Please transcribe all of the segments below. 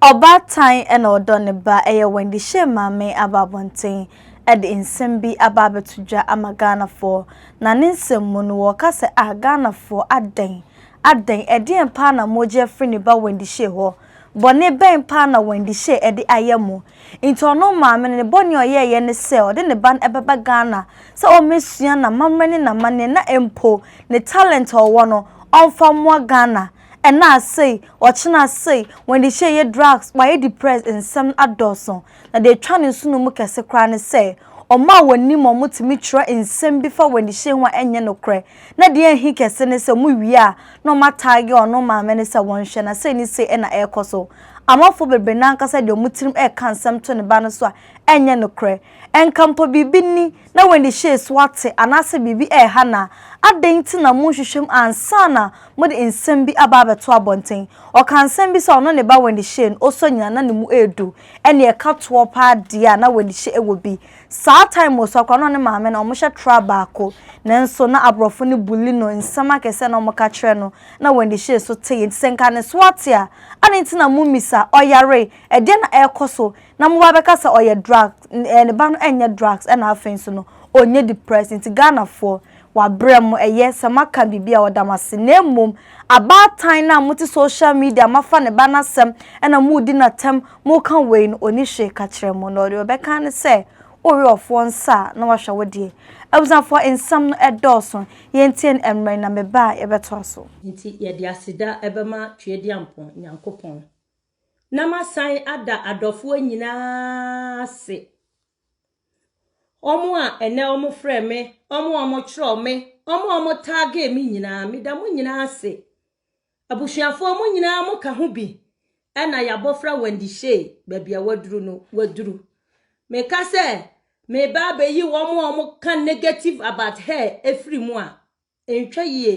Ɔbaatan na ɔdɔ ne ba, ɛyɛ Wendy Shay maame aba abɔnten de nsɛm bi aba abɛto dwa ama Ghanafoɔ. Na ne nsɛm mu no, ɔreka sɛ, Ah Ghanafoɔ, adɛn? Adɛn? Ɛdeɛn paa na moregye afiri ne ba Wendy Shay hɔ? Bɔne bɛn paa na Wendy Shay de ayɛ mo? Nti ɔno maame no, ne bɔne a ɔyɛeɛ ne sɛ, ɔde ne ba no bɛba Ghana sɛ ɔmmɛsua n'amammerɛ ne n'amanneɛ na mpo ne talent a ɔwɔ no, ɔmfa mmoa Ghana. Ɛna sei, ɔkyena sei, wɔn de hyɛ yɛ drugs, wayɛ depressed nsɛm no adɔɔso. Na deɛ ɛtwa ne nsono mu kɛse koraa ne sɛ, wɔn a wɔnim wɔn no tumi twerɛ nsɛm bi fa wɔn de hyɛ ho a ɛnyɛ nokorɛ. Na deɛ ɛhe kɛse ne sɛ wɔwie a na wɔn ataage ɔno maame no sɛ wɔnhwɛ na sei ne sei na ɛrekɔ so. Amanfoɔ bebree no ankasa de wɔn tirim reka nsɛm to ne ba no so a ɛnyɛ nokorɛ. Ɛnka mpo biribi ni na w'ani hyɛɛ so ate anaasɛ biribi reha no a, adɛn nti na monhwehwɛ mu ansa na mode nsɛm bi aba abɛto abɔnten? Ɔkaa nsɛm bi sɛ ɔno ne ba w'ani hyee no, ɔsɔ nyinaa na ne mu yɛ du, ɛnneɛ ɛka toɔ pa ara deɛ a na w'ani hyɛ wɔ bi. Saa time wɔ so koraa na ɔne maame no wɔhyɛ tra baako, nanso na aborɔfo no bully no, nsɛm akɛseɛ a na wɔka kyerɛ no na w'ani hyee so tee. Nti sɛ nka ne so ate a, adɛn nti na mommisa, ɔyaree? Ɛdeɛn na ɛrekɔ so? na mo ba bɛka sɛ ɔyɛ drugs ɛɛ ne ba no ɛnyɛ drugs ɛna afei nso no ɔnyɛ depressed nti Ghanafoɔ wabrɛ mo ɛyɛ sɛ moaka biribi a ɔda mo ase na mmom abaatan no a mote social media moafa ne ba no asɛm ɛna moredi no atɛm moreka wei no ɔnni hwee ka kyerɛ mo na deɛ ɔbɛka ne sɛ wowe ɔfoɔ nsa a na wahwɛ wo deɛ. Abusuafoɔ nsɛm no ɛdɔɔso yɛntie no ɛmmerɛ yi na me ba a yɛbɛtoa so. Nti yɛde aseda bɛma Tweaduampɔn Nyankopɔn. na masan ada adɔfoɔ nyinaa ase, wɔn a ɛnɛ wɔfrɛɛ me, wɔn a wɔtwerɛɛ me, wɔn a wɔtaagee me nyinaa, meda mo nyinaa ase. Abusuafoɔ mo nyinaa mo ka ho bi ɛna yɛabɔfra Wendy Shay baabi a waduru no waduru. Meka sɛ meba abɛyi wɔn a wɔka negative about her ɛfiri mu a, Ɛntwa yie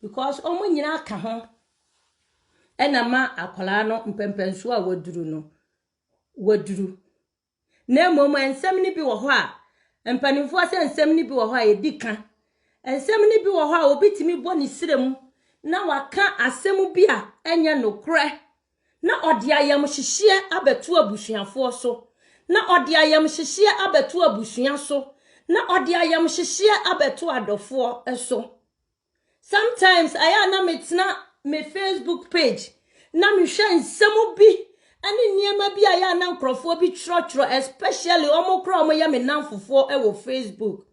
because wɔn nyinaa aka ho ɛna ma akwadaa no mpɛmpɛnsoɔ a waduru no waduru. Na mmom nsɛm no bi wɔ hɔ a mpanimfoɔ sɛ nsɛm no bi wɔ hɔ a yɛdi ka. Nsɛm no bi wɔ hɔ a obi tumi bɔ ne srɛ mu na waka asɛm bi a ɛnyɛ nokorɛ Na ɔde ayamhyehyeɛ abɛto abusuafoɔ so, na ɔde ayamhyehyeɛ abɛto abusua so, na ɔde ayamhyehyeɛ abɛto adɔfoɔ so. Sometimes ayɛ a na metena me Facebook page na mehwɛ nsɛm bi ne nneɛma bi a yɛ a na nkurɔfoɔ bi twerɛtwerɛ especially wɔn koraa wɔyɛ me namfofoɔ wɔ Facebook.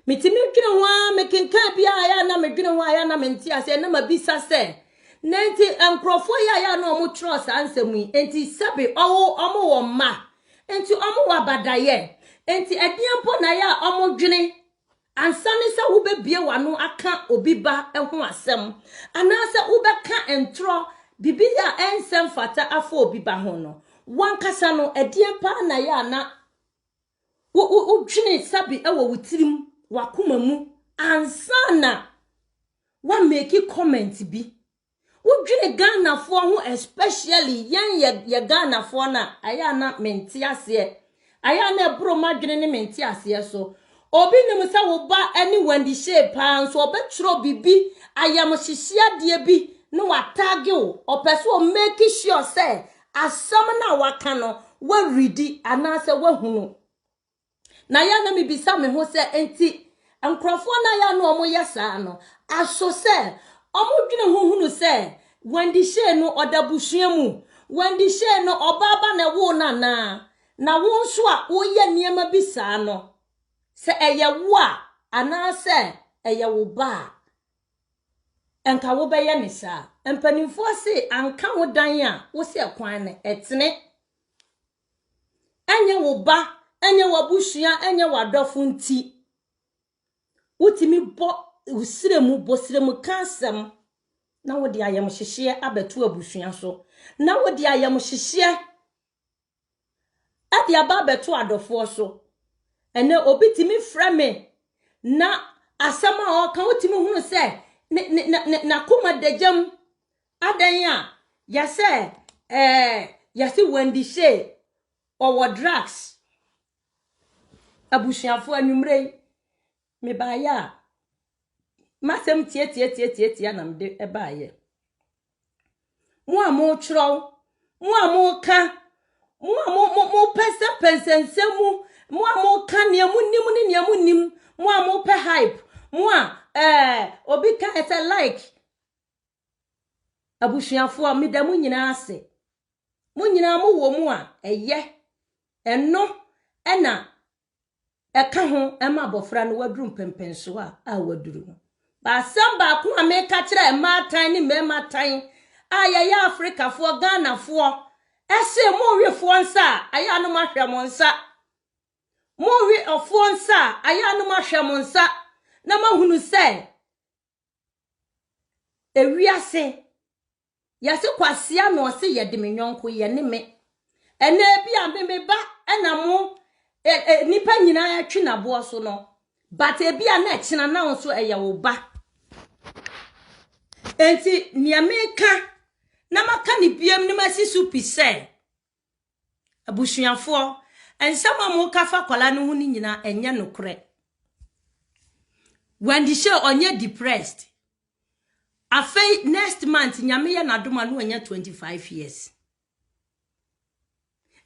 Metumi dwene ho ara, mekenkan bi a ɛyɛ a na medwene ho a ɛyɛ a na mente aseɛ na mabisa sɛ na nti nkurɔfoɔ yi a ɛyɛ a na wɔtwerɛ saa nsɛm yi nti sɛbe ɔwo wɔn wɔ mma nti wɔn wɔ abadayɛ nti ɛdeɛ mpo na ɛyɛ a wɔdwene ansa ne sɛ wobɛbie w'ano aka obi ba ho asɛm anaasɛ wobɛka ntorɔ biribi a ɛnsɛ mfata afa obi ba ho no wankasa no ɛdeɛ paa na ɛyɛ a na Wo, wo, wodwene sabi wɔ wo tirim, w'akoma mu, ansa na woameki comment bi. Wodwene Ghanafoɔ ho especially yɛn yɛ, yɛ Ghanafoɔ no a, ayɛ a na mente aseɛ. Ayɛ a na ɛboro m'adwene ne mente aseɛ so. Obi nim sɛ wo ba ne Wendy Shay paa nso ɔbɛtwerɛ biribi ayamhyehyeadeɛ bi na wataage wo. Ɔpɛ sɛ ɔmeki sure sɛ Asɛm no a waka no, woaredi anaasɛ woahunu. Na yɛ na mebisa me ho sɛ, enti nkurɔfoɔ no a yɛ na wɔyɛ saa no, aso sɛ wɔdwene ho hunu sɛ Wendy Shay no ɔda abusua mu? Wendy Shay no ɔbaa ba na ɛwoo no anaa? Na wo nso a woyɛ nneɛma bi saa no, sɛ ɛyɛ wo a anaasɛ ɛyɛ wo ba a, anka wobɛyɛ ne saa. Mpanimfoɔ se anka wo dan a wo se ɛkwan no ɛtene. Ɛnyɛ wo ba, ɛnyɛ w'abusua, ɛnyɛ w'adɔfo nti. Wotumi bɔ srɛ mu, bɔ srɛ mu ka asɛm na wode ayamhyehyeɛ abɛto abusua so. Na wode ayamhyehyeɛ de aba abɛto adɔfoɔ so. Ɛnɛ obi tumi frɛ me na asɛm a ɔka wotumi hunu sɛ ne ne ne n'akoma da gyam adɛn a yɛsɛ ɛɛ yɛse Wendy Shay ɔwɔ drugs abusuafoɔ anwummerɛ yi mebaeɛ a masɛm tiatiatiatiatia na mede baeɛ. Mo a mokyerɛw, mo a moka, mo a mo mo mopɛnsɛmpɛnsɛ nsɛm mu, mo a moka nea monim ne nea monim, mo a mopɛ hype, mo a ɛɛ eh, obi ka ɛsɛ like. Abusuafoɔ, meda mo nyinaa ase. Mo nyinaa mowɔ mu a ɛyɛ. Ɛno ɛna ɛka ho ma abɔfra no waduru mpɛmpɛnsoɔ a a waduru no. Baasɛm baako a meka kyerɛ mmaatan ne mmarima tan a yɛyɛ Afrikafoɔ, Ghanafoɔ, ɛse monwe foɔ nsa a ayɛ anom ahwɛ mo nsa. Monwe ɔfoɔ nsa a ayɛ anom ahwɛ mo nsa na mahunu sɛ Ewiase, yɛse kwasea na ɔse yɛde me nyɔnko yɛ ne me. Ɛnna ebi a me me ba ɛna mo e, e, nipa nyinaa atwi n'aboɔ so no but ebi a na ɛkyena na nso ɛyɛ wo ba. Enti nea meka na maka ne biam ne masi so pi sɛ Abusuafoɔ, nsɛm a moka fa akwadaa no ho no nyinaa ɛnyɛ nokorɛ. Wendy Shay ɔnyɛ depressed. Afei next month nyame yɛ n'adom a na wanya 25 years.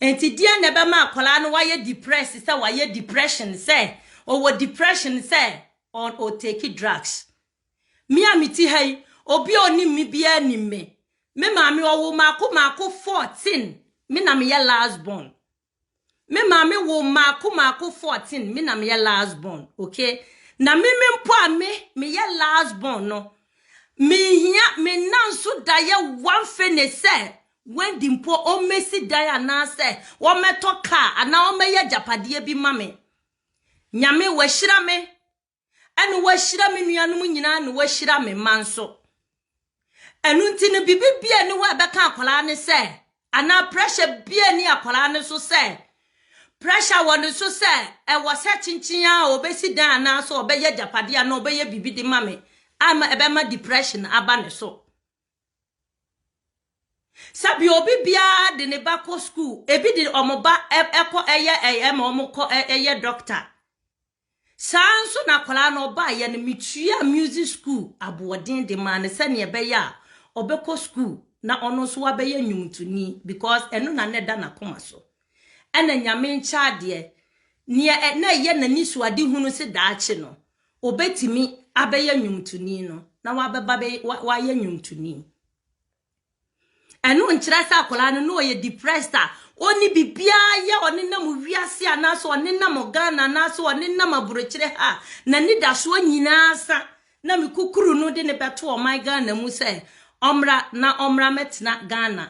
Nti deɛ na ɛbɛma akwadaa no wayɛ depressed sɛ wayɛ depression sɛ ɔwɔ depression sɛ ɔtake drugs. Me a mete ha yi, obi a onim me biara nim me. Me maame ɔwo mmaako mmaako 14, me na meyɛ last born. Me maame wo mmaako mmaako 14, me na meyɛ last born, okay? Na me me mpo a me meyɛ last born no, menhia me nna nso da yɛ one fene sɛ Wendy mpo ɔmmɛsi dan anaasɛ wɔmmɛtɔ kaa anaa wɔmmɛyɛ agyapadeɛ bi ma me. Nyame wahyira me ɛna wahyira me nuanom nyinaa na wahyira me mma nso ɛno nti no biribi bia ni hɔ a ɛbɛka akwadaa ne sɛ anaa pressure bia ni akwadaa ne so sɛ pressure wɔ ne so sɛ ɛwɔ sɛ kyenkyen a ɔbɛsi dan anaasɛ ɔbɛyɛ agyapadeɛ anaa ɔbɛyɛ biribi de ma me ama ɛbɛma depression aba ne so sɛbi obi biara de ne ba kɔ school ebi de wɔn ba ɛkɔ ɛyɛ ɛyɛ ma wɔn kɔ ɛyɛ doctor. Saa ara nso na akwadaa no ɔbaeɛ no metuaa music school aboɔden de maa no sɛnea ɛbɛyɛ a ɔbɛkɔ school na ɔno nso wabɛyɛ nnwomtoni because ɛno na na ɛda n'akoma so. Ɛna Nyame nkyɛ adeɛ, nea ɛ- na ɛyɛ n'ani so ade hunu se daakye no obetumi abɛyɛ nnwomtoni no na wabɛba bɛyɛ wa- wayɛ nnwomtoni. Ɛno nkyerɛ sɛ akwadaa no na ɔyɛ depressed a ɔnni biribiara yɛ, ɔnenam wiase anaasɛ ɔnenam Ghana anaasɛ ɔnenam aburokyire ha a n'anidasoɔ nyinaa sa na me kukuru no de no bɛto ɔman Ghana mu sɛ ɔmmra na ɔmmra mmɛtena Ghana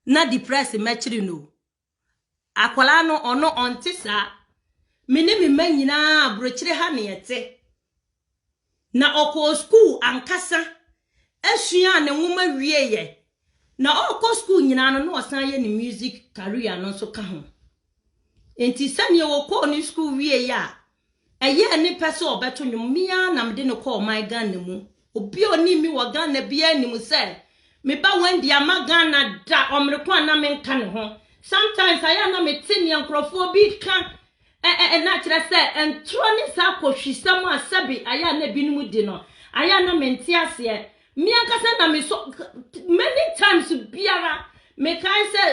na depressed mmɛkyere no o. Akwadaa no, ɔno ɔnte saa. Me ne me mma nyinaa, aburokyire ha na yɛte. Na ɔkɔɔ sukuu ankasa suaa ne nwoma wieeɛ. Na ɔrekɔ sukuu nyinaa no, na ɔsan yɛ ne music career no nso ka ho. Nti sɛdeɛ ɔkɔɔ ne sukuu wieeɛ a, Ɛyɛɛ ne pɛ sɛ ɔbɛto nnwom, me ara na mede no kɔɔ ɔman Ghana mu. Obi a onim me wɔ Ghana biara nim sɛ me ba Wendy amma Ghana da, ɔmere ko a na menka ne ho. Sometimes ayɛ a na mete nea nkurɔfoɔ bi reka ɛ-ɛ-ɛ na kyerɛ sɛ ntorɔ ne saa kohwisɛm a sɛbe ayɛ a na ebinom di no, ayɛ a na mente aseɛ. Me ankasa na mesɔ, many times biara mekae sɛ,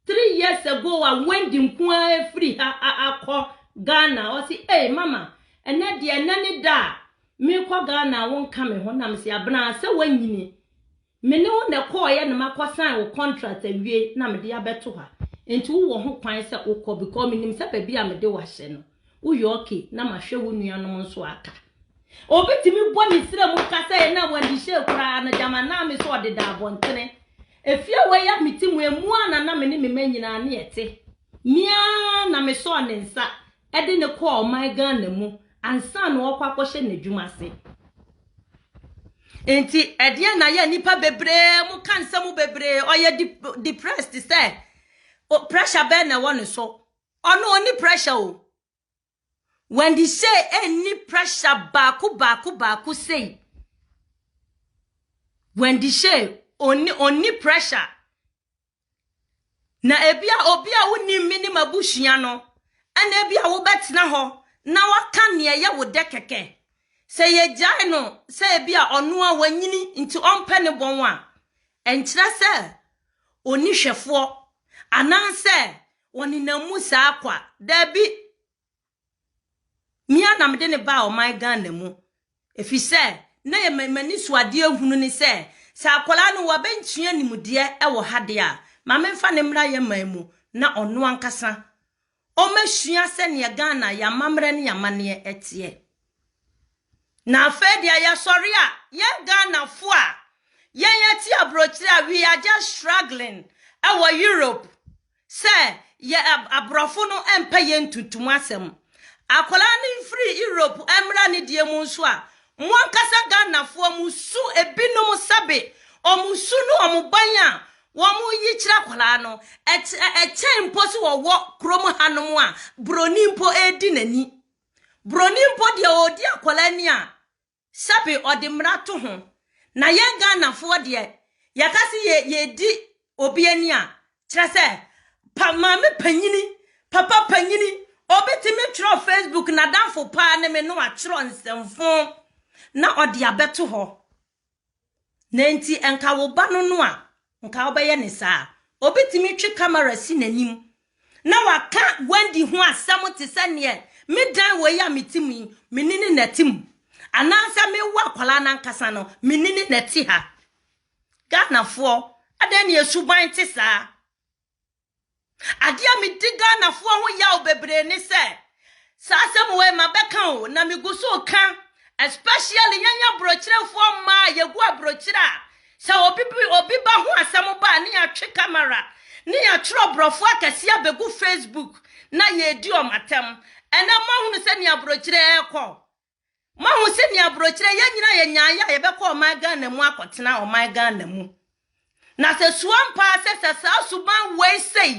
Three years ago a Wendy nko ara afiri ha akɔ Ghana, ɔse ei mama ɛnɛ deɛ ɛnɛ ne da a mekɔ Ghana a wonka me ho, na mese abena sɛ woanyini, me ne wo na ɛkɔɔyɛ na makɔ sign wo contract awie na mede abɛto ha, nti wowɔ ho kwan sɛ wokɔ because menim sɛ baabi a mede wo ahyɛ no woyɛ okay na mahwɛ wo nuanom nso aka. Obi tumi bɔ ne srɛ mu ka sɛ na wandi hyɛ koraa no gyama naa me so ɔdeda abɔntene. Efie wei a me ti mu emu a na na me ne me mma nyinaa ne ɛte. Meaa na me sɔɔ ne nsa ɛde ne kɔɔ ɔman Ghana mu ansa na ɔkɔ akɔhyɛ n'adwuma ase. Nti ɛdeɛ na yɛ nipa bebree mo ka nsɛm bebree ɔyɛ depressed sɛ pressure bɛn na ɛwɔ ne so. Ɔno ɔni pressure o. Wendy say ɛnni pressure baako baako baako sei. Wendy say ɔnni ɔnni pressure. Na ebi a obi a wonim me ne m'abusua no ɛna ebi a wobɛtena hɔ na waka nea ɛyɛ wo dɛ kɛkɛ. Sɛ yɛgyae no sɛ ebi a ɔno a wanyini nti ɔmpɛ ne bɔn a ɛnkyerɛ sɛ ɔni hwɛfoɔ anaasɛ Wɔnenam mu saa kwa. Dabi! Me ara na mede no baa ɔman Ghana mu efisɛ na ɛyɛ m'ani so adeɛ hunu ne sɛ, sɛ akwadaa no wabenkyea nimdeɛ wɔ ha deɛ a, ma memfa no mmra yɛn man mu na ɔno ankasa ɔmmɛsua sɛdeɛ Ghana, yɛn amammerɛ ne yɛn amanneɛ teɛ. Na afei deɛ yɛsɔre a, yɛn Ghanafoɔ a yɛn yɛte aburokyire a we are just struggling wɔ Europe, Sɛ yɛ aborɔfo no mpɛ yɛn ntuntum asɛm. Akwadaa no mfiri Europe mmra ne deɛ mu nso a, mo ankasa Ghanafoɔ mo su ebinom sɛbe wɔn su ne wɔn ban a wɔyi kyerɛ akwadaa no, ɛkyɛn mpo so wɔwɔ kurom hanom a buroni mpo redi n'ani. Buroni mpo deɛ ɔredi akwadaa ni a, Sɛbe ɔde mmara to ho. Na yɛn Ghanafoɔ deɛ, yɛka se yɛ yɛredi obi ani a, kyerɛ sɛ, pa maame panyini, papa panyini, obi tumi twerɛ Facebook n'adamfo paa ne me na watwerɛ nsɛmfoo na ɔde abɛto hɔ. Na nti nka wo ba no no a nka wobɛyɛ ne saa. Obetumi twe kamera si n'anim na waka Wendy ho asɛm te sɛ neɛ me dan wei a mete mu yi, me ne no na ɛte mu. Anaasɛ mewo akwadaa no ankasa no, me ne no na ɛte ha. Ghanafoɔ, adɛn ne yɛn suban te saa? Adeɛ a medi Ghanafoɔ ho yaw bebree ne sɛ saa asɛm wei mabɛka o na megu so ka especially yɛn aborɔkyerɛfoɔ mmaa a yɛgu aborɔkyerɛ a sɛ obi obi ba ho asɛm ba a ne yɛatwe kamera ne yɛatwerɛ borɔfoɔ akɛseɛ abɛgu Facebook na yɛredi wɔn atɛm ɛnɛ moahunu sɛ ne aborɔkyerɛ ɛrekɔ Moahu sɛ nea aburokyerɛ yɛn nyinaa yɛ nyaayɛ a yɛbɛkɔ ɔman Ghana mu akɔtena ɔman Ghana mu. Na sɛ su ampa sɛ sɛ saa suban wei sei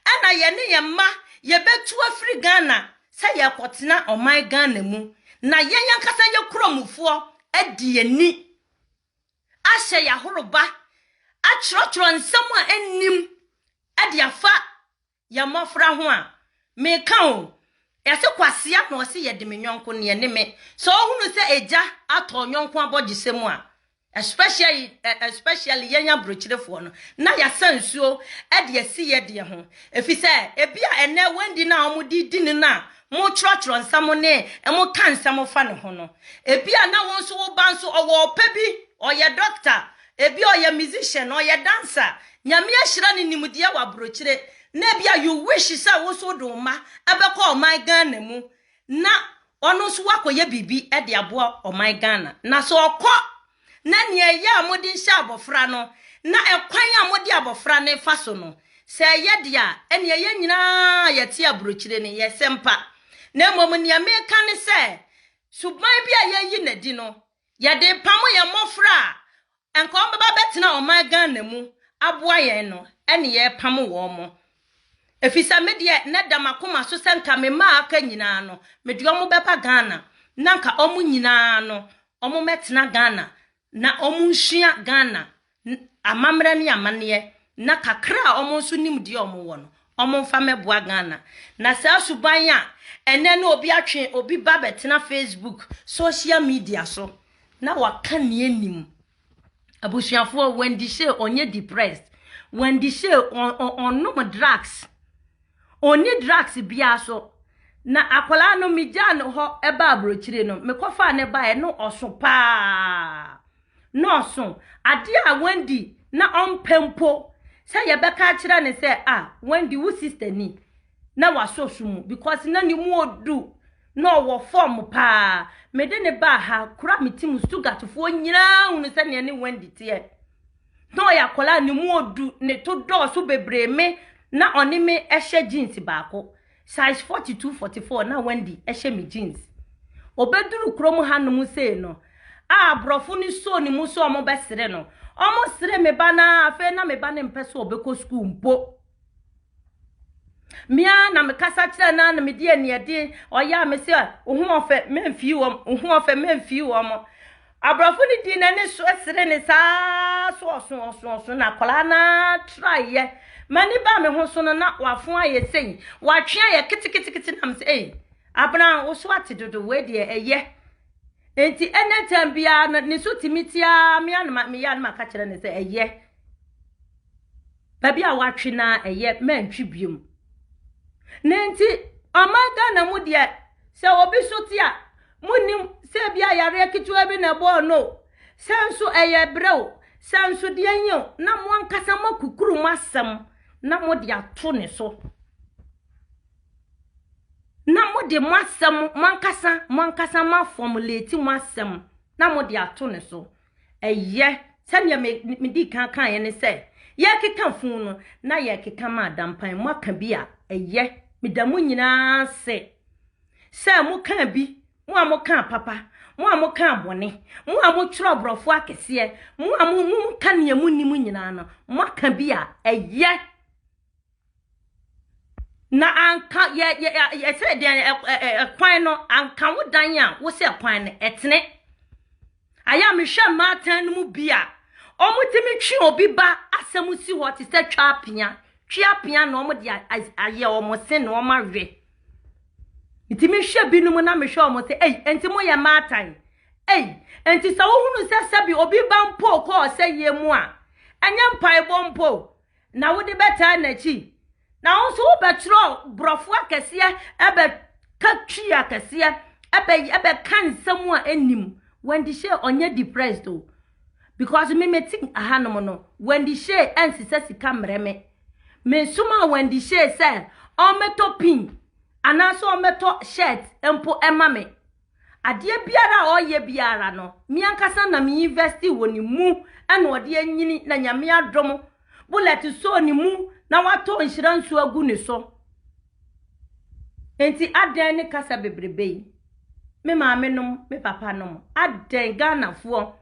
ɛna yɛne yɛn mma yɛbɛtu afiri Ghana sɛ yɛkɔtena ɔman Ghana mu na yɛn ankasa yɛ kuramufoɔ adi yɛn ni ahyɛ yɛahoroba atwerɛtwerɛ nsɛm a ɛnnim de afa Yɛ mmɔfra ho a, meka o. Yɛse kwasea na ɔse yɛde me yɔnko neɛ ne me. Sɛ ɔhunu sɛ agya atɔ ɔyɔnko abɔgyesɛ mu a, especially especially yɛn aburokyirefoɔ no, na yɛasa nsuo de asi yɛ deɛ ho. Efisɛ ebi a ɛnɛ Wendy no a wɔde di no no a motwerɛtwerɛ nsɛm ne moka nsɛm fa ne ho no, ebi a na wo nso wo ba nso ɔwɔ ɔpɛ bi, ɔyɛ dɔkta, Ebia ɔyɛ musician, ɔyɛ dancer, Nyame ahyira no nimdeɛ wɔ abrokyire, na ebia you wish sɛ wo nso wode wo mma bɛkɔ ɔman Ghana mu na ɔno nso wakɔyɛ biribi de aboa ɔman Ghana. Na sɛ ɔkɔ na nea ɛyɛ a mode nhyɛ abɔfra no na ɛkwan a mode abɔfra no fa so no, sɛ ɛyɛ deɛ a, ɛnneɛ yɛn nyinaa a yɛte abrokyire no, yɛsɛ mpa. Na mmom nea meka ne sɛ, suban bi a yɛayi no adi no, Yɛde repamo yɛn mmɔfra a anka wɔbɛba abɛtena ɔman Ghana mu aboa yɛn no ne yɛrepamo wɔn. Ɛfiri sɛ me deɛ na ɛda m'akoma so sɛ nka me mma a aka nyinaa no, mede wɔn bɛba Ghana na nka wɔn nyinaa no wɔmmɛtena Ghana na wɔnsua Ghana N, amammerɛ ne amanneɛ, na kakra a wɔn nso nim deɛ wɔn wɔ no, wɔn nfa mmɛboa Ghana. Na saa suban a ɛnɛ ne obi atwe obi ba bɛtena Facebook, social media so na waka nea ɛnim. Abusuafoɔ, Wendy Shay ɔnyɛ depressed. Wendy Shay ɔ- ɔ- ɔnom drugs. Ɔnni drugs biara so. Na akwadaa no megyaa no hɔ ɛba aburokyire no, mekɔfaa no baeɛ no ɔso paa. nnɔɔso, adeɛ a Wendy na ɔmpɛ mpo sɛ yɛbɛka akyerɛ no sɛ, ah, Wendy, wo sister ni, na wasɔ su mu because na ne mu odu, na ɔwɔ fam paa. Mede no baa ha, kora me ti mu Stuttgartfoɔ nyinaa hunu sɛdeɛ ne Wendy teɛ. Na ɔyɛ akwadaa a ne mu odu, ne to dɔɔso bebree me na ɔne me hyɛ jeans baako. Size forty two forty four na Wendy hyɛ me jeans. Ɔbɛduru kurom hanom sei no, a aborɔfo no soo ne mu sɛ wɔbɛsere no. Wɔsere me ba no ara, afei na me ba no mpɛ sɛ ɔbɛkɔ sukuu mpo. Me ara na mekasa kyerɛ no ara na mede aniɛden ɔyɛ a me sɛ, wo ho ɔfɛ, memfii wɔn, wo ho ɔfɛ, memfii wɔn. Aborɔfo no dii n'ani so sere ne saa so ɔso ɔso ɔso na akwadaa no traeɛ. M'ani baa me ho so no na wafo ayɛ sei, watwe ayɛ keteketekete nam sɛ ei, abena wo so ate dodo wei deɛ ɛyɛ. Nti ɛnɛ tɛm biara no ne so tumi tiaa me anoma meyɛ anoma ka kyerɛ ne sɛ ɛyɛ. Baabi a wɔatwe no ara ɛyɛ mantwi biom. Na enti ɔman Ghana mu deɛ sɛ obi so te a, monnim sɛ ebi a yareɛ ketewa bi na ɛbɔɔ no o, sɛ nso ɛyɛ brɛ o, sɛ nso deɛ nye o, na mo ankasa moakukuru mo asɛm na mode ato ne so. Na mode mo asɛm, mo ankasa, mo ankasa moafɔmuleti mo asɛm na mode ato ne so. Ɛyɛ, sɛdeɛ me, medii kan kaeɛ ne sɛ, yɛkeka fun no, na yɛkeka ma adampan. Moaka bi a, ɛyɛ. Meda mo nyinaa ase sɛ mokaa bi, mo a mokaa papa, mo a mokaa bɔne, mo a motwerɛ aborɔfo akɛseɛ, mo a mo, mo, moka nea monim nyinaa no, moaka bi a, ɛyɛ. Na anka yɛ yɛ ɛsɛ deɛ ɛkwan no anka wo dan a wosɛ ɛkwan no ɛtene ayɛ a mehwɛ mmaatan no mu bi a wɔtumi twe obi ba asɛm si hɔ te sɛ twa apea twe apea na wɔde ayɛ wɔn se na wɔn awe nti mehwɛ binom na mehwɛ wɔn sɛ ei nti mo yɛ mmaatan ei nti sɛ wohunu sɛ sɛbi obi ba mpo kɔɔ sɛ yie mu a ɛnyɛ mpaebɔ mpo na wode bɛtaa n'akyi, na wo nso wobɛtwerɛ borɔfo akɛseɛ ɛbɛka twi akɛseɛ ɛbɛ ɛbɛka nsɛm a ɛnim Wendy Shay ɔnyɛ depressed o because me mete ahanom no Wendy Shay ɛnsesɛ sika mmerɛ me mesoma Wendy Shay sɛ ɔmmɛtɔ pin anaasɛ ɔmmɛtɔ shirt mpo ɛma me Adeɛ biara a ɔyɛ biara no, me ankasa na me invest wɔ ne mu ɛna ɔde anyini na Nyame adom Bullet sɔɔ ne mu na watɔ nhyira nsuo agu ne so. Enti adɛn ne kasa bebrebe yi? Me maame nom, me papa nom, adɛn Ghanafoɔ?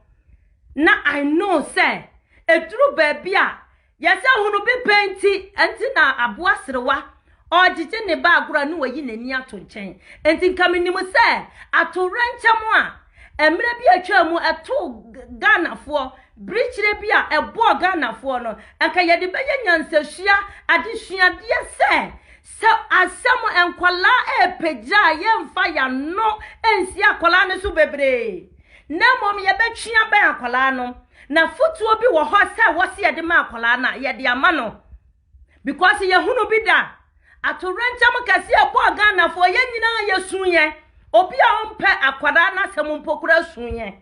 Na I know sɛ ɛduru baabi a Yɛsɛ hunu bi pɛ nti, ɛnti na aboa serewa ɔɔgyegye ne ba agorɔ ne wayi n'ani ato nkyɛn. Ɛnti nka menim sɛ atowerɛnkyɛm a mmerɛ bi a atwaa mu ɛtoo Ghanafoɔ, birikyire bi a ɛbɔɔ Ghanafoɔ no, nka yɛde bɛyɛ nyansasua adesuadeɛ sɛ, sɛ asɛm nkwadaa ɛɛpagya a yɛmfa y'ano nsi akwadaa no so bebree, na mmom yɛbɛtwe abɛn akwadaa no. Na afotuo bi wɔ hɔ sɛ wɔse yɛde ma akwadaa no a, yɛde ama no. Because yɛhunu bi da. Atowerɛnkyɛm kɛseɛ a ɛbɔɔ Ghanafoɔ, yɛn nyinaa yɛsuiɛ. Obi a ɔmpɛ akwadaa no asɛm mpo koraa suiɛ.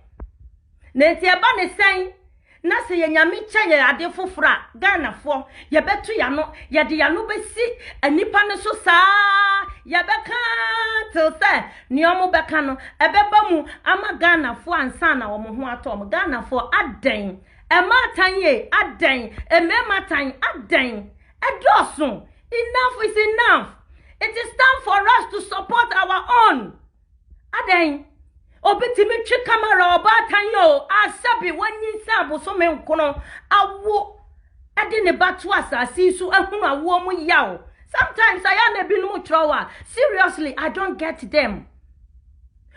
Na nti ɛba ne sɛn na sɛ yɛ Nyame kyɛ yɛ ade foforɔ a, Ghanafoɔ, yɛbɛto yɛn ano, yɛde yɛn ano bɛsi nnipa no so saa, yɛbɛka till sɛ Nea wɔn bɛka no ɛbɛba mu ama Ghanafoɔ ansa na wɔn ho atɔ wɔn. Ghanafoɔ adɛn? Ɛmaa atan yie adɛn? Mmarima atan adɛn? Ɛdɔɔso. Enough is enough. It is time for us to support our own. Adɛn? Obi tumi twe kamera ɔbaatan yɛ o, asabi wɔnyi nsa abosome nkono awo de ne ba to asase yi so ahunu awoɔ mu yaw sometimes ayɛ a na ebinom twerɛw a seriously i don't get them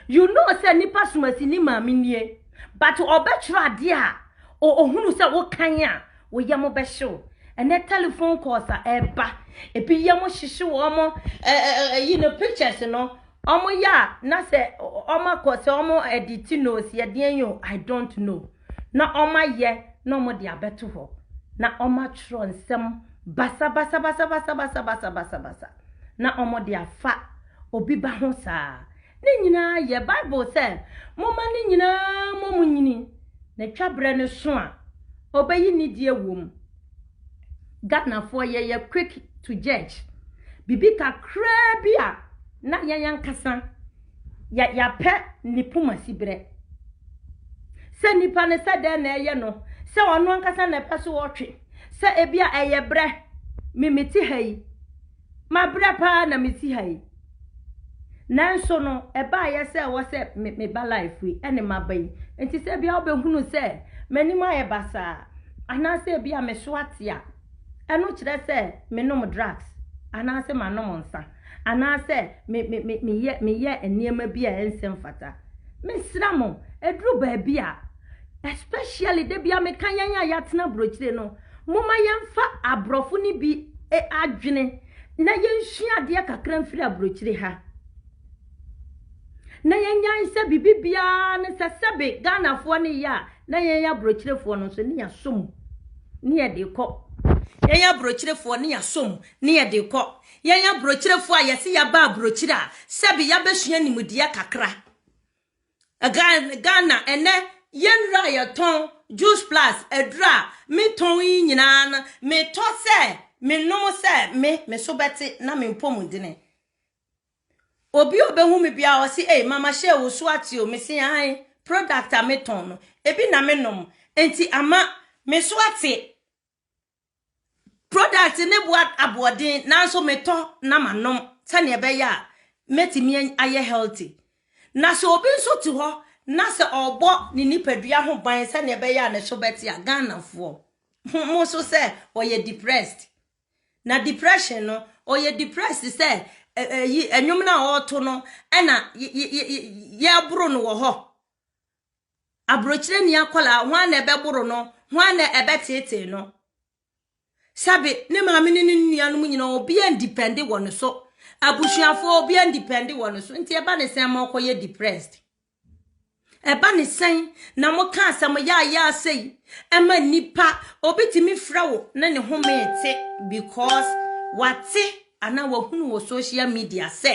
you know sɛ nipa sumasi ne maame nie but ɔbɛtwerɛ adeɛ a o- ohunu sɛ wokan a wo yam bɛhyew ɛnɛ telephone calls a ɛba ebi yam hyehye wɔn mo ɛ- ɛ- ɛ- ɛyi no pictures no wɔn yɛ a na sɛ ɔ- ɔ- wɔn akɔ sɛ wɔn edit nose yɛ deɛn yi o i don't know na wɔayɛ na wɔde abɛto hɔ, na wɔatwerɛ nsɛm basabasabasabasabasabasabasa na wɔde afa obi ba ho saa. Ne nyinaa yɛ Bible sɛ, Momma ne nyinaa mmɔ mo nyini, na twa berɛ no so a, ɔbɛyi nidie wom. Ghanafoɔ yɛyɛ quick to judge. Biribi kakraa bi a, na yɛn ankasa yɛ yɛapɛ ne poma siberɛ. Sɛ nipa no sɛ dɛn na ɛyɛ no, sɛ ɔno ankasa na ɛpɛ so ɔtwe, sɛ ebi a ɛyɛ berɛ, me mete ha yi, mabrɛ paa na mete ha yi. Nanso no, ɛbaeɛ sɛ ɛwɔ sɛ me meba life yi, ɛne maba yi. Nti sɛ ebi a wobɛhunu sɛ m'anim ayɛ basaa, anaasɛ ebi a me so ate a, Ɛno kyerɛ sɛ menom drugs, anaasɛ manom nsa, anaasɛ me, me, me, meyɛ, meyɛ nneɛma bi a ɛnsɛ mfata. Mesrɛ mo, ɛduru baabi a, especially da bi a meka yɛn a yɛatena aburokyire no, momma yɛmfa aborɔfo no bi adwene na yɛnsua adeɛ kakra mfiri aburokyire ha. Na yɛnyae sɛ biribi biara ne sɛ sɛbe Ghanafoɔ ne yɛ a, na yɛn aburokyerefoɔ no nso ne yɛasɔ mu ne yɛde rekɔ. Yɛn aburokyerefoɔ ne yɛasɔ mu ne yɛde rekɔ. Yɛn aburokyerefoɔ a yɛse yɛaba aburokyire a, sɛbe yɛabɛsua nimdeɛ kakra. Ghana ɛnɛ, yɛnnuro a yɛtɔn, Juice Plus, aduro a metɔn yi nyinaa no, metɔ sɛ menom sɛ me me so bɛte na me mpɔmudene. Obi a ɔbɛhu me biara ɔse ei mama hyɛɛ wo so ate o, mese aane, product a metɔn no ebi na me nom nti ama me so ate. Product ne boa aboɔden nanso metɔ na ma nom sɛnea ɛbɛyɛ a mɛtumi ayɛ healthy. Na sɛ obi nso te hɔ na sɛ ɔbɔ ne nipadua ho ban sɛnea ɛbɛyɛ a ne so bɛte a Ghanafoɔ mo so sɛ ɔyɛ depressed. Na depression no, ɔyɛ depressed te sɛ ɛ- ɛyi, ɛnwom no a ɔreto no, ɛna y- y- y- y- yɛreboro no wɔ hɔ. Aburokyerɛ ni akwadaa, hwan na ɛbɛboro no? Hwan na ɛbɛteetee no? Sɛbe, ne maame ne ne nuanom nyinaa, obiara ndipɛnde wɔ ne so. Abusuafoɔ, obiara ndipɛnde wɔ ne so. Nti ɛba ne sɛn ma ɔkɔyɛ depressed? Ɛba ne sɛn na moka asɛm yaayaa sei ma nnipa? Obi tumi frɛ wo na ne home te because wate anaa wahunu wɔ social media sɛ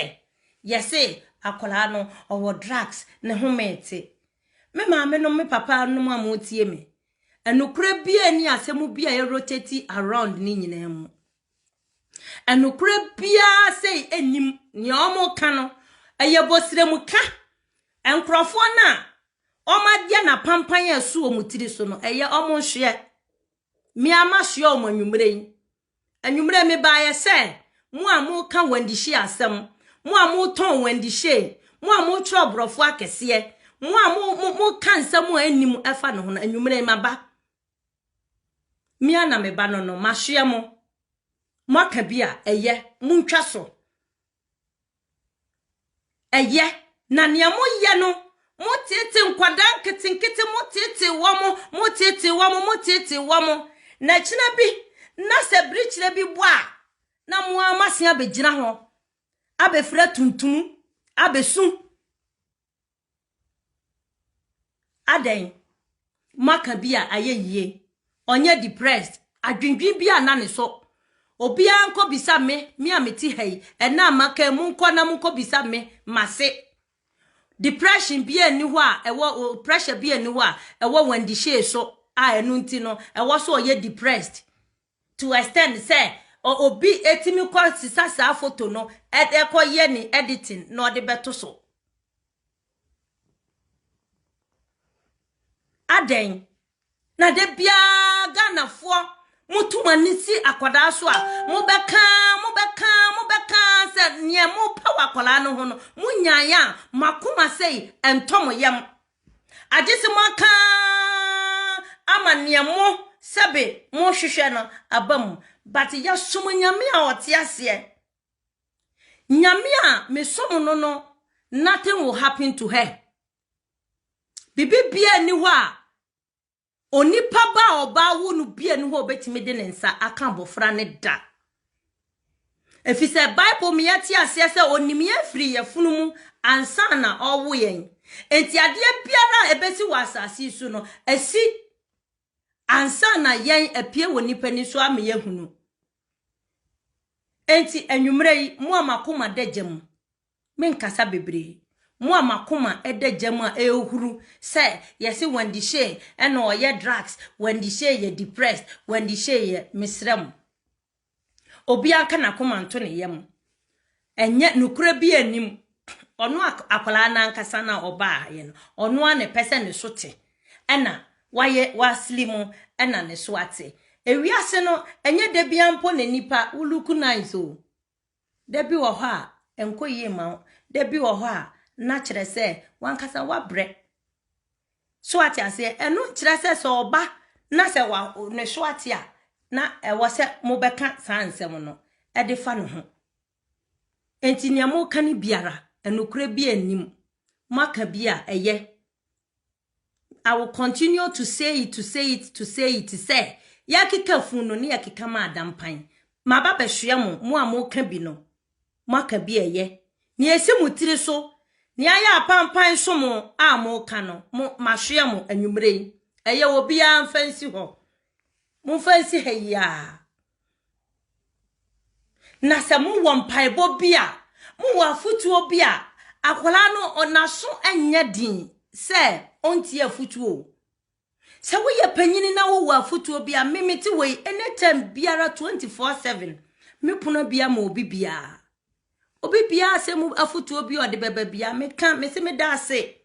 yɛse akwadaa no ɔwɔ drugs ne home te. Me maame nom me papa nom a motie me. Ɛnokorɛ biara ni asɛm bi a ɛrotati around ne nyinaa mu. Nokorɛ biara sei nnim nea wɔreka no, ɛyɛ bɔsrɛmuka. Nkorɔfoɔ no a wɔayɛ no apampan a ɛso wɔn tiri so no, ɛyɛ wɔn nhweɛ. Me ara masoɛ wɔn anwummerɛ yi. Anwummerɛ yi mebaeɛ sɛ, mo a moreka wɔn adihyie asɛm, mo a motɔn wɔn adihyie, mo a motwerɛ aborɔfo akɛseɛ, mo a mo, mo, moka nsɛm a ɛnnim ɛfa ne ho no, anwummerɛ yi maba. Me ara na me ba no no masoɛ mo mo aka bi a ɛyɛ mo ntwa so ɛyɛ na nea mo yɛ no mo tete nkwadaa nketenkete mo tete wɔ mo mo tete wɔ mo mo tete wɔ mo na kyena bi na sɛ birikyerɛ bi bɔ a na mo ara mo ase abɛgyina ho abɛfira tuntum abɛsu Adɛn? Moaka bi a ayɛ yie. Ɔnyɛ depressed. Adwendwen bi a na ne so. Obiara nkɔbisa me, me a mete ha yi. Ɛna a maka yi, monkɔ na monkɔbisa me, mase. Depression bi a nni hɔ a, ɛwɔ, pressure bi a nni hɔ a, ɛwɔ Wendy Shay so a ɛno nti no, ɛwɔ so ɔyɛ depressed. to extend sɛ obi tumi kɔ sesa saa photo no ɛkɔ yɛ ne editing na ɔde bɛto so adɛn na da biara ghanafoɔ moto mo ani si akwadaa so a mobɛka mobɛka mobɛka sɛ neɛ mopɛ wɔ akwadaa no ho no monyaeɛ a makoma sei ɛntɔ mo yam Agye se moaka ara ama nea mo sɛbe mohwehwɛ no aba mu. But yɛsom Nyame a ɔte aseɛ. Nyame a mesom no no, nothing will happen to her. Biribi biara nni hɔ a Onipa ba a ɔbaa wo no bia ni hɔ a ɔbɛtumi de ne nsa aka abɔfra no da. Ɛfiri sɛ Bible mu yɛte aseɛ sɛ ɔnim yɛn firi yɛfono mu ansa na ɔwo yɛn. Enti adeɛ biara a ɛbɛsi wɔ asase so no, ɛsi ansa na yɛn apue wɔ nipa ni so ama yɛhunu. Enti anwummerɛ yi, mo a makoma da gya mu, Menkasa bebree. Mo a m'akoma da gya mu a ɛrehuru sɛ yɛse Wendy Shay na ɔyɛ drugs, Wendy Shay yɛ depressed, Wendy Shay yɛ, mesrɛ mo. Obiara nka n'akoma nto ne yam. Ɛnyɛ, nokorɛ biara nnim. Ɔno akwadaa no ankasa na ɔbaeɛ no, ɔno ara na ɛpɛ sɛ ne so te. Ɛna wayɛ, wasli mo, ɛna ne so ate. Ewiase no, ɛnyɛ da biara mpo na nnipa wo look nice o. Da bi wɔ hɔ a, ɛnkɔ yie mma wo. Da bi wɔ hɔ a, na kyerɛ sɛ w'ankasa woabrɛ. So ate aseɛ? Ɛno nkyerɛ sɛ sɛ ɔba na sɛ wa ne so ate a, na ɛwɔ sɛ mobɛka saa nsɛm no de fa ne ho. Enti nea moreka no biara, nokorɛ bi nnim. Moaka bi a, ɛyɛ. I will continue to say it, to say it, to say it sɛ yɛakeka funu no ne yɛkeka ma ada mpan. Maba bɛhwea mo, mo a moka bi no, moaka bi a ɛyɛ. Nea ɛsi mo tiri so, nea ayɛ apampan so mo a moka no, mo, mahwea mo anwummere yi. Ɛyɛ obiara mfa nsi hɔ. Momfa nsi ha yi ara. Na sɛ mowɔ mpaebɔ bi a, mowɔ afotuo bi a, akwadaa no n'aso nyɛ den sɛ ɔntie afotuo. Sɛ woyɛ panyini na wowɔ afotuo bi a, me mete wei anytime biara 24/7 me pono bia ma obi biara. Obi biara sɛ mu afotuo bi a ɔde bɛba bia, meka mese meda ase.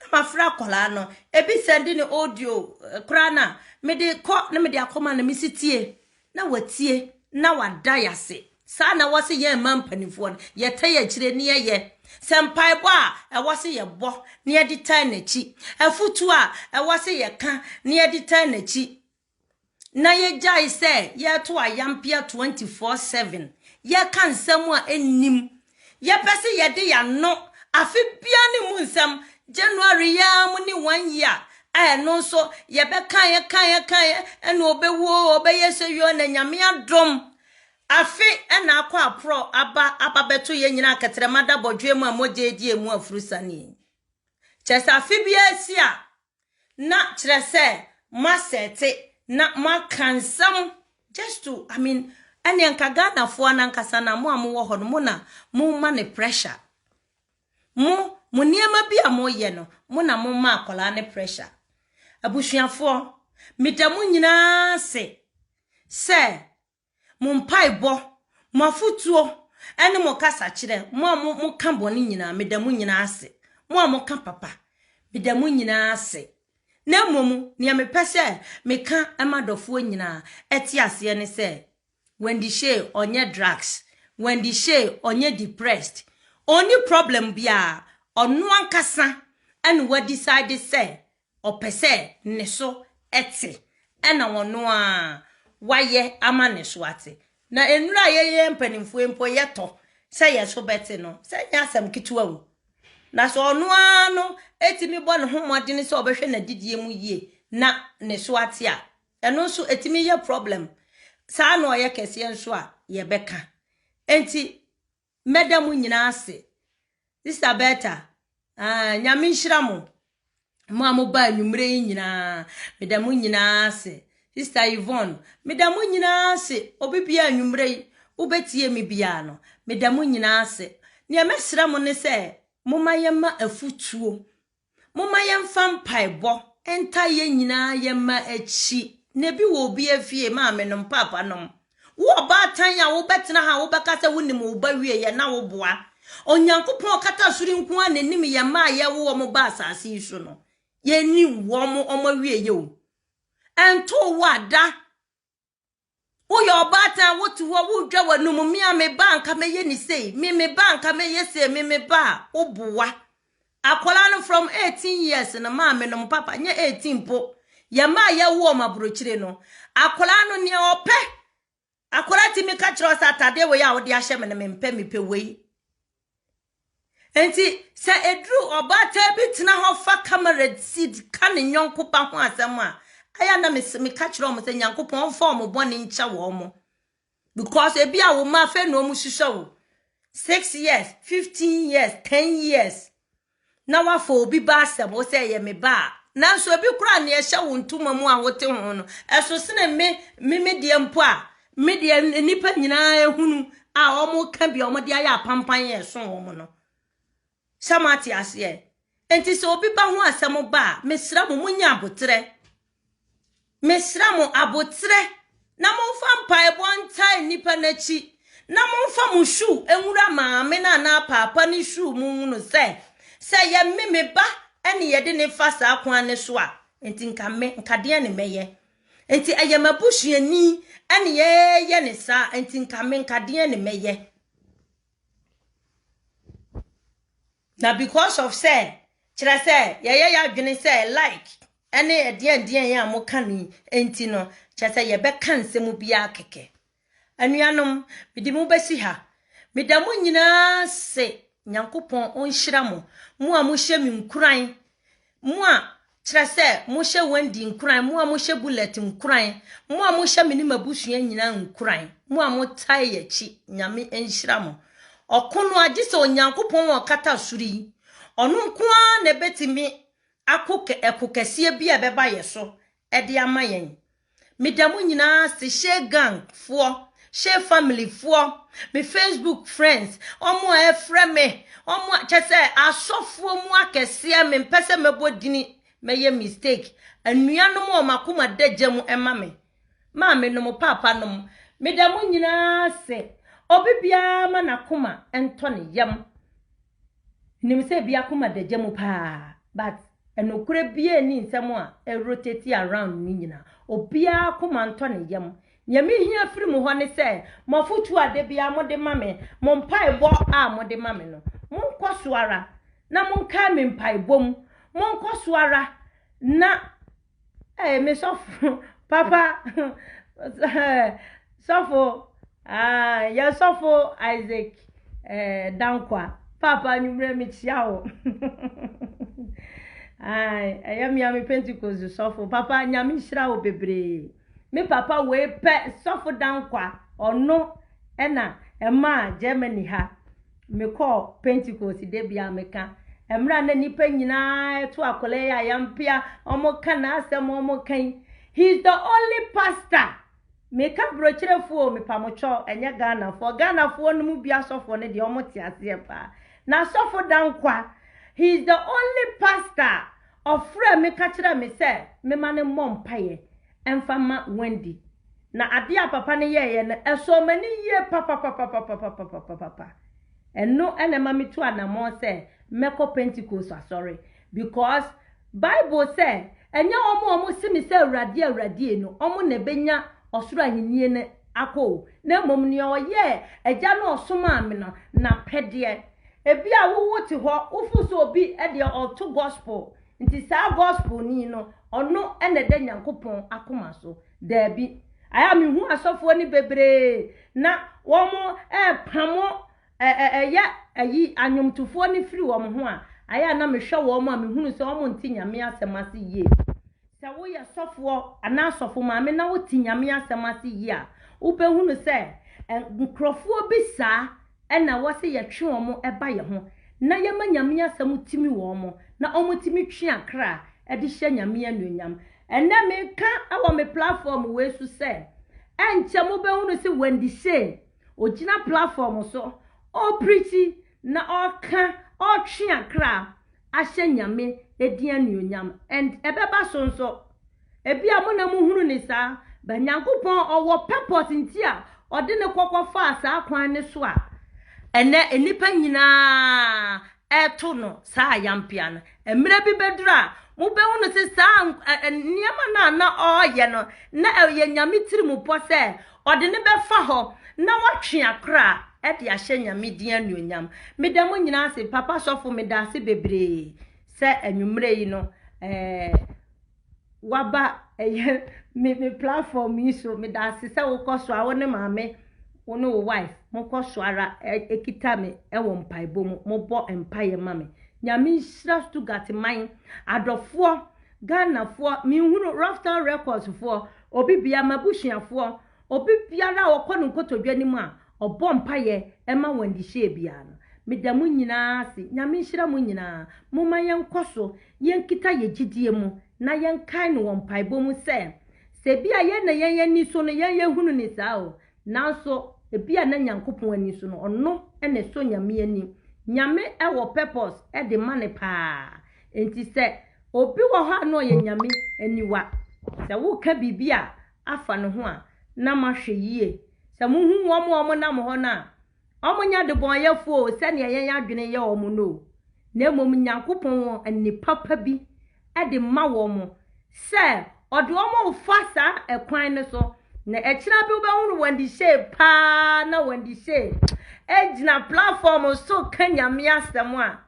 Na mafrɛ akwadaa no, ebi sɛnde ne audio eh, koraa na mede kɔ na mede akɔma no mesi tie na watie na wada yɛ ase saa na ɛwɔ sɛ yɛn mma mpanimfoɔ no yɛtɛ yɛ akyire ne yɛyɛ sɛ mpaebɔ a ɛwɔ sɛ yɛbɔ ne yɛde tan n'akyi afotuo a ɛwɔ sɛ yɛka ne yɛde tan n'akyi na yɛgyae sɛ yɛreto ayampea 24/7, yɛreka nsɛm a ɛnnim, yɛpɛ sɛ yɛde yɛn ano afe biara ne mu nsɛm, January yi ara mu ne one year a ɛno nso yɛbɛkaeɛ kaeɛ kaeɛ ɛna ɔbɛwuo ɔbɛyɛ sɛ yɔ na nyame adom afe ɛna akɔ aporɔ aba aba bɛto yɛn nyinaa kɛtrɛma da bɔdwoɛ mu a mogya adi emu afurusane kyɛ sɛ afe biara si a na kyerɛ sɛ moasɛte na moaka nsɛm just to I mean ɛne nka Ghanafoɔ no ankasa na mo a mowɔ hɔ no mo na moma ne pressure mo mo nneɛma bi a moyɛ no mo na moma akwadaa ne pressure abusuafoɔ meda mo nyinaa se sɛ mo mpaebɔ, mo afotuo, ne mo kasakyerɛ, mo a mo moka bɔne nyinaa, meda mo nyinaa ase. Mo a moka papa, meda mo nyinaa ase. Na mmom nea mepɛ sɛ meka ma dɔfoɔ nyinaa ɛte aseɛ ne sɛ Wendy Shay ɔnyɛ drugs, Wendy Shay ɔnyɛ depressed, ɔnni problem biara, ɔno ankasa ɛna wadecide sɛ Ɔpɛ sɛ ne so te, ɛna ɔno ara wayɛ ama ne so ate. Na nnuru a yɛyɛ mpanimfoɔ yi mpo yɛtɔ sɛ yɛn so bɛte no, sɛ ɛnyɛ asɛm ketewa o. Na sɛ ɔno ara no tumi bɔ ne ho mmɔden sɛ ɔbɛhwɛ n'adidie mu yie na ne so ate a, ɛno nso ɛtumi yɛ problem. Saa na ɔyɛ kɛseɛ nso a yɛbɛka. Enti Mɛda mo nyinaa ase. Sister Bertha, ah, Nyame nhyira mo. Mo a mo baa nwummerɛ yi nyinaa, meda mo nyinaa ase. Sister Yvonne, meda mo nyinaa ase. Obi biara nwummerɛ yi, wobɛtie me biara no, meda mo nyinaa ase. Nea mɛsrɛ mo ne sɛ, momma yɛmma afutuo Momma yɛmfa mpaebɔ ntaa yɛn nyinaa yɛn mma akyi. Na ebi wɔ obi afie, maamenom, paapanom. Wo ɔbaatan a wobɛtena ha a wobɛka sɛ wonim wo ba wie yɛ na woboa. Onyankopɔn a ɔkata soro nko ara na ɛnim yɛn mma a yɛwo wɔn ba asase yi so no. Yɛnim wɔn, wɔn awieyɛ o. Ɛntoo wo a, da. Woyɛ ɔbaatan a wote hɔ a wodwa w'anom, me a me ba a anka mɛyɛ ne sei, me me ba a anka mɛyɛ sei, me me ba a woboa. Akwadaa no from 18 years no maame no mo papa nyɛ 18 mpo. Yɛn mma a yɛwo wɔn aburokyire no, akwadaa no nea ɔpɛ, akwadaa tumi ka kyerɛ wo sɛ atadeɛ wei a wode ahyɛ me no mempɛ, mepɛ wei. Enti, sɛ eduru ɔbaatan bi tena hɔ fa camera seat ka ne yɔnko ba ho asɛm a, ɛyɛ a na mes- meka kyerɛ wɔn sɛ Nyankopɔn mfa wɔn bɔne nkyɛ wɔn. Because ebi a wo mma afei na wɔn hwehwɛ wo. Six years, fifteen years, ten years. na wafa obi ba asɛm wo sɛ ɛyɛ me ba a nanso ebi koraa nea ɛhyɛ wo ntoma mu a wote ho no ɛso sene me me me deɛ mpo a Me deɛ nnipa nyinaa ehunu a wɔn ka bi a wɔn de ayɛ apampan yɛ ɛso wɔn no. Sɛ mo ate aseɛ. Nti sɛ obi ba ho asɛm ba a, mesra mo mo nya abotrɛ. Mesra mo abotrɛ na mo nfa mpaebɔ ntae nnipa n'akyi na mo nfa mo shu enwura maame na na paapa ne shu mo nwunu sɛ sɛ yɛ me me ba ɛne yɛde ne fa saa kwan ne so a nti nka me nka deɛ ne mɛyɛ Enti ɛyɛ m'abusuani ɛne yɛyɛ ne saa enti nka me nka deɛ ne mɛyɛ na because of sɛ kyerɛ sɛ yɛyɛ yɛ adwene sɛ like ɛne ɛdeɛn deɛn a moka no enti no kyerɛ sɛ yɛbɛka nsɛm biara kɛkɛ Anuanom, mede mo bɛsi ha. Meda mo nyinaa se Nyankopɔn ɔnhyira mo, mo a mohyɛ me nkuran, mo a kyerɛ sɛ mohyɛ Wendy nkuran, mo a mohyɛ Bullet nkuran, mo a mohyɛ me ne m'abusua nyinaa nkuran, mo a motae yɛ akyi, Nyame nhyira mo. Ɔko no agye sɛ Onyankopɔn a ɔkata soro yi, ɔno nko ara na ɛbɛtumi ako ɛko kɛseɛ bi a ɛbɛba yɛ so ɛde ama yɛn. Meda mo nyinaa ase, Shea gang foɔ, Shea family foɔ, me Facebook friends, ɔmo a ɛfrɛ me, ɔmo a kyɛ sɛ asɔfoɔ mu akɛseɛ, me mpɛ sɛ mɛbɔ dini, mɛyɛ mistake. Anuanom a ɔmo akoma da gya mu ɛma me, maame nom, paapa nom, meda mo nyinaa ase. Obi biara ma n'akoma ɛntɔ ne yam. Minim sɛ ebi akoma da gya mu paa but nokorɛ biaa nni nsɛm a ɛ rotate around no nyinaa. Obiaa akoma ntɔ ne yam. Nea me hia firi mo hɔ ne sɛ mo afotuo a da biaa mo de ma me, mo mpaebɔ a mo de ma me no, mo nkɔ so ara na mo nkae me mpaebɔ mu, mo nkɔ so ara na Hey, me sɔfo papa sɔfo ah, yɛ sɔfo Isaac eh, Dankwa papa anwummerɛ mekyia wo ɛyɛ mea me Pentecost sɔfo papa nyame nhyira wo bebree me papa wei pɛ sɔfo Dankwa ɔno ɛna ɛmaa Germany ha Mekɔɔ Pentekoste da bi a meka, mmerɛ a na nnipa nyinaa reto akwadaa yi a yɛampia, wɔreka n'asɛm, wɔreka yi, he is the only pastor, meka brochyerɛfoɔ o, mepamotwɔ, ɛnyɛ Ghanafoɔ, Ghanafoɔ no mu bi asɔfoɔ no deɛ wɔte aseɛ paa, na asɔfo Dankwa, he is the only pastor a ɔfrɛɛ me ka kyerɛɛ me sɛ memma no mmɔ mpaeɛ, mfa mma Wendy. Na adeɛ a papa no yɛeɛ no, ɛsɔɔ m'ani yie papapapapapapapapapa. Ɛno na ɛma metu anammɔn sɛ mɛkɔ Pentekoste asɔre. Because Bible sɛ, Ɛnyɛ wɔn a wɔse me sɛ, 'Awurade, Awurade' no, wɔn na ɛbɛnya ɔsoro ahennie no akɔ o, na mmom nea ɔyɛɛ Agya no a ɔsomaa me no n'apɛdeɛ. Ebia wo wote hɔ, wofo sɛ obi deɛ ɔreto gospel Nti saa gospelni no ɔno na ɛda Nyankopɔn akoma so? Daabi. Ayɛ a me hu asɔfoɔ no bebree na wɔn repamo ɛ ɛ ɛyɛ ayi anwomtofoɔ no firi wɔn ho a, ayɛ a na me hwɛ wɔn a me hunu sɛ wɔn nte Nyame asɛm ase yie. Sɛ wo yɛ sɔfoɔ anaa sɔfo maame na wo te Nyame asɛm ase yie a, wo bɛ hunu sɛ nkorɔfoɔ bi saa na wɔse yɛtwe wɔn ba yɛ ho na yɛma Nyame asɛm tumi wɔ wɔn na wɔn tumi twe akra de hyɛ Nyame anuonyam. Ɛnnɛ meka wɔ me platform wei so sɛ ɛnkyɛ mobɛhunu se Wendy Shane ɔgyina platform so ɔrepreachi na ɔreka ɔretwe akra ahyɛ Nyame din anuonyam and ɛbɛba so nso. Ebia mo na mohunu no saa, but Nyankopɔn ɔwɔ purpose nti a ɔde no kɔkɔ faa saa kwan no so a ɛnɛ nnipa nyinaa ɛreto no saa ayampea no. Mmerɛ bi bɛduru a mobɛhunu sɛ saa nneɛma no a na ɔreyɛ no na ɛyɛ Nyame tirimupɔ sɛ Ɔde no bɛfa hɔ na watwe akora de ahyɛ Nyame din anuonyam. Meda mo nyinaa ase, Papa Sɔfo meda ase bebree sɛ anwummerɛ yi no eh, waba ɛyɛ me, me platform yi so. Meda ase sɛ wokɔ so a wo ne maame wo ne wo wife mokɔ so ara ɛkita me ɛwɔ mpaebɔ mu, mobɔ mpaeɛ ma me. Nyame nhyira Stuttgart man adɔfoɔ Ghana foɔ menhunu Rufftal records foɔ obi bia mabusua foɔ obi biara a ɔkɔ no nkotodwe anim a ɔbɔ mpaeɛ ɛma wɔn ndehyɛɛ biara no meda mo nyinaa ase nyame nhyira mo nyinaa momma yɛn kɔso yɛn kita yɛn gyidie mu na yɛn kae no wɔ mpaebɔ mu sɛ sɛ bia yɛn na yɛn ani so no yɛn yɛhunu no saa o Nanso, ebia na Nyankopɔn ani so no, ɔno na ɛsɔ Nyame ani. Nyame wɔ purpose de ma no paa. Enti sɛ obi wɔ hɔ a na ɔyɛ Nyame aniwa, sɛ woka biribi a afa ne ho a, na mahwɛ yie. Sɛ muhu wɔn a wɔnam hɔ no a, Wɔnyɛ adebɔneyɛfoɔ o, sɛdeɛ yɛn adwene yɛ wɔn no o, na mmom Nyankopɔn wɔ nne papa bi de ma wɔn sɛ Ɔde wɔn refa saa ɛkwan no so, na akyire bi wobɛhunu wɔn de hyɛɛ paa na wɔn de hyɛɛ gyina platform so ka Nyame asɛm a,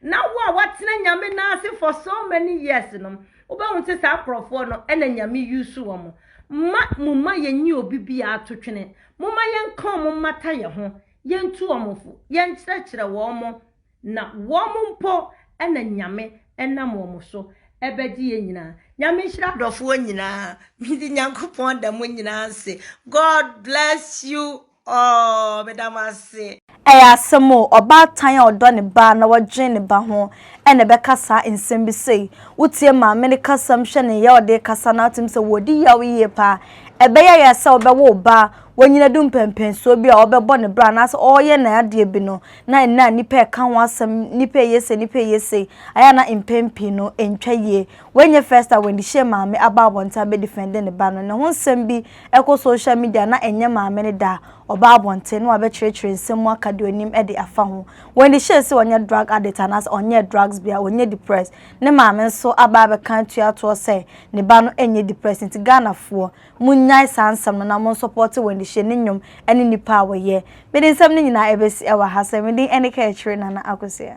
na wo a watena nyame no ase for so many years no wobɛhu sɛ saa nkurɔfoɔ no ɛna nyame yusu wɔn ma mo ma yɛnyi obi biara ato twene mo ma yɛnka wɔn mmata yɛ ho yɛntu wɔn fo yɛnkyerɛkyerɛ wɔn mo na wɔn mpo ɛna nyame ɛnam wɔn so ɛbɛgye yɛn nyinaa nyame nhyira adɔfoɔ nyinaa mede nyankopɔn da mo nyinaa ase god bless you Aww meda mo ase. Ɛyɛ asɛm o, ɔbaatan a ɔdɔ ne ba na ɔdwen ne ba ho na ɛbɛka saa nsɛm bi sei. Wotie maame no kasam hwɛ ne yea a ɔde rekasa no a wotim sɛ wɔredi yaw yie paa. Ɛbɛyɛ yɛ sɛ wobɛwo wo ba a wanyin adu mpɛnpɛnsoɔ bi a ɔrebɛbɔ ne bra anaasɛ ɔreyɛ ne adeɛ bi no na ɛnnɛ a nnipa reka ho asɛm nnipa reyɛ sei nnipa reyɛ sei ayɛ a na mpɛn pii no ɛntwa yie. Wei nyɛ first a Wendy Shay maame aba abɔnten abɛdifɛnde ne ba no. Ne ho nsɛm bi Ɛkɔ social media na ɛnyɛ maame no da a, ɔba abɔnten na wabɛkyerɛkyerɛ nsɛm mu aka deɛ ɔnim de afa ho. When they share sɛ ɔnyɛ drug addict anaasɛ ɔnyɛɛ drugs bi a, ɔnyɛ depressed. Ne maame nso aba abɛka atua toɔ sɛ ne ba no nyɛ depressed. Nti Ghanafoɔ, monnyae saa nsɛm no na monsɔpɔɔte Wendy Shea ne nnwom ne nnipa a wɔyɛ. Mede nsɛm no nyinaa ɛbɛsi wɔ ha sɛ, me din ɛne Kaakyire Nana Akosua.